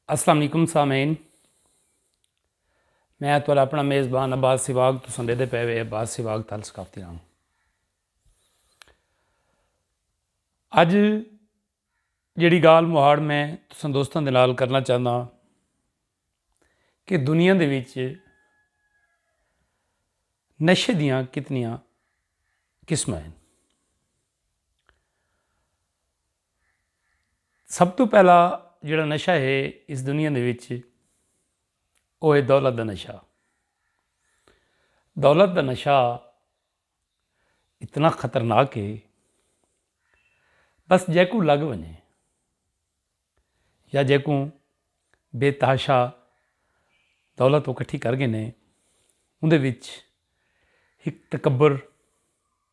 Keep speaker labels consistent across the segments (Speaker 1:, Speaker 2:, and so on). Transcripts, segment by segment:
Speaker 1: السلام علیکم سامعین میں اتوال اپنا میزبان عباس سواگ تو سندے دے پیوے عباس سواگ تال ثقافتی رہا ہوں اج جڑی گال مہاڑ میں تسان دوستان دے نال کرنا چاہنا کہ دنیا دے وچ نشے دیاں کتنیاں قسمیں ہیں سب توں پہلا جیڑھا نشہ ہے اس دنیا دے وچ او ہے دولت دا نشہ۔ دولت دا نشہ اتنا خطرناک ہے بس جیکوں لگ ونجے یا جیکوں بے تحاشا دولت اکٹھی کر گھنے اوں دے وچ ہک تکبر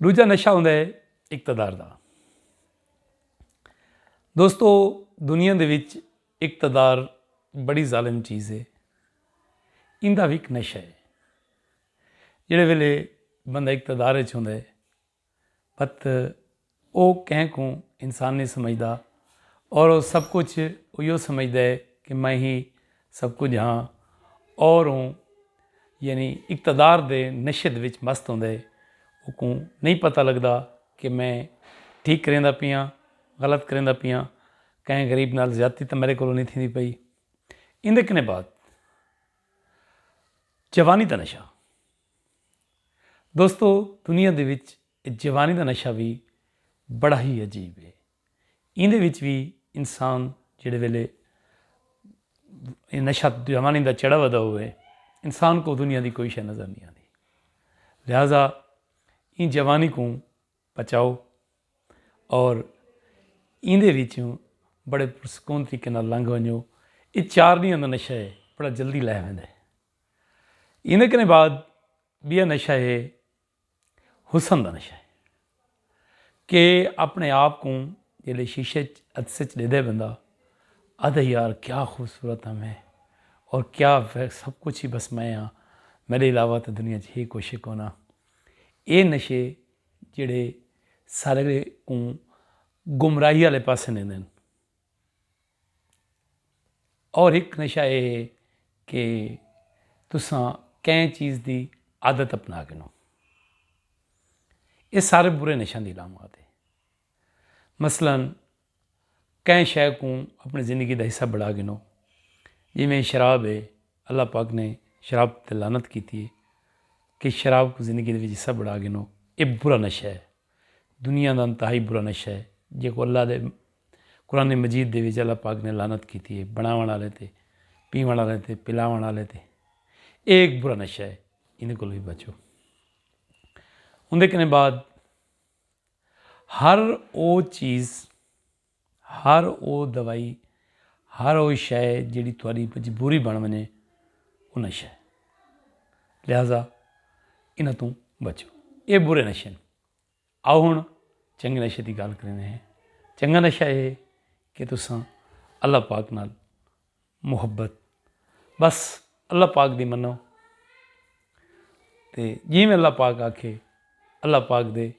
Speaker 1: ڈوجھا نشہ ہوندا ہے اقتدار دا۔ دوستو دنیا دے وچ اقتدار بڑی ظالم چیز ہے۔ ایندا وی ہک نشہ ہے۔ جیڑھے ویلے بندہ اقتدار وچ ہوندا ہے۔ پت او کہیں کوں انسان نئیں سمجھدا اور او سب کجھ اوہیو سمجھدا ہے کہ میں ہی سب کجھ ہاں اور اوں یعنی اقتدار دے نشد وچ مست ہوندا ہے۔ اوکوں نئیں پتہ لگدا کہ میں ٹھیک کریندا پیاں، غلط کریندا پیاں، کہیں غریب نال زیادتی تاں میڈے کولوں نئیں تھیندی پئی۔ ایندے کنے بعد جوانی دا نشہ۔ دوستو دنیا دے وچ جوانی دا نشہ وی بڑا ہی عجیب ہے۔ ایندے وچ وی انسان جیڑھے ویلے نشہ جوانی دا چڑھا ودا ہووے انسان کوں دنیا دی کوئی شے نظر نی آندی۔ لہذا ایں جوانی کوں بچاؤ اور ایندے وچوں بڑے پرسکون طریقے نال لنگھ ونجو۔ اے چار ݙینہاں دا نشہ ہے بڑا جلدی لہہ ویندے۔ ایندے کنیں بعد ٻیا نشہ ہے حسن دا نشہ ہے کہ اپنے آپ کوں جیلے شیشے چ عدسے اچ ݙیدے بندہ آدھے یار کیا خوبصورت ہاں میں اور کیا سب کچھ ہی بس میں ہاں میڈے علاوہ تے دنیا چ ہے کچھ ہی کونا اے نشے جیڑھے سارے کوں گمراہی آلے پاسے نیں دین۔ اور ہک نشہ اے ہے کہ تساں کہیں چیز دی عادت اپنا گنو اے سارے برے نشہ دی علامات ہے مثلا کہیں شے کو اپنی زندگی دا حصہ بڑھا گنو جی میں شراب ہے اللہ پاک نے شراب تے لعنت کیتی ہے کہ شراب کو زندگی دے وچ حصہ بڑھا گنو اے برا نشہ ہے دنیا دا انتہائی برا نشہ ہے جیکوں اللہ دے قرآن مجید دے وچ اللہ پاک نے لعنت کیتی ہے بناوݨ آلیں تے پیوݨ آلیں تے پلاوݨ آلیں تے اے ہک برا نشہ ہے ایندے کولوں وی بچو اوندے کنے بعد ہر او چیز ہر او دوائی، ہر او شئے جیڑھی تہاݙی مجبوری بݨ ونڄے او نشہ ہے۔ لہذا انہاں توں بچو۔ اے برے نشے ہن۔ آؤ ہݨ چنڳے نشے دی ڳالھ کریندے ہیں۔ چنڳا نشہ اے ہے کہ تساں اللہ پاک نال محبت بس اللہ پاک دی منو تے جیویں اللہ پاک آکھے اللہ پاک دے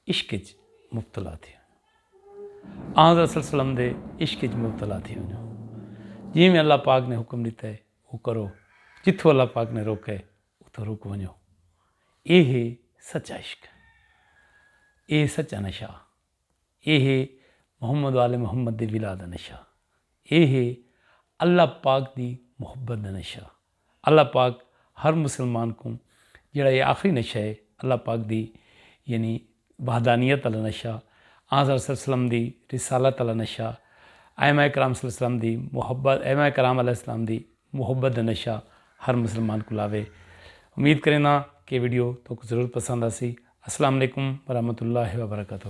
Speaker 1: عشق اچ مبتلا تھی ونجو آن حضرت صلی اللہ علیہ وسلم دے عشق اچ مبتلا تھی ونجو جیویں اللہ پاک نے حکم دیتا ہے وہ کرو جتھوں اللہ پاک نے روکا ہے اتھوں رک ونجو اے ہے سچا عشق اے سچا نشہ اے ہے محمد و آل محمد دے ولا دا نشہ۔ اے ہے اللہ پاک دی محبت دا نشہ۔ اللہ پاک ہر مسلمان کوں جیڑھا اے آخری نشہ ہے اللہ پاک دی یعنی وحدانیت آلا نشہ، آنحضرت صلی اللہ علیہ وسلم دی رسالت آلا نشہ، ائمہ کرام صلی اللہ علیہ وسلم دی محبت، ائمہ کرام علیہ السلام دی محبت دا نشہ ہر مسلمان کوں لاوے۔ امید کرینداں کہ اے ویڈیو تہاکوں ضرور پسند آسی۔ السلام علیکم ورحمت اللہ وبرکاتہ۔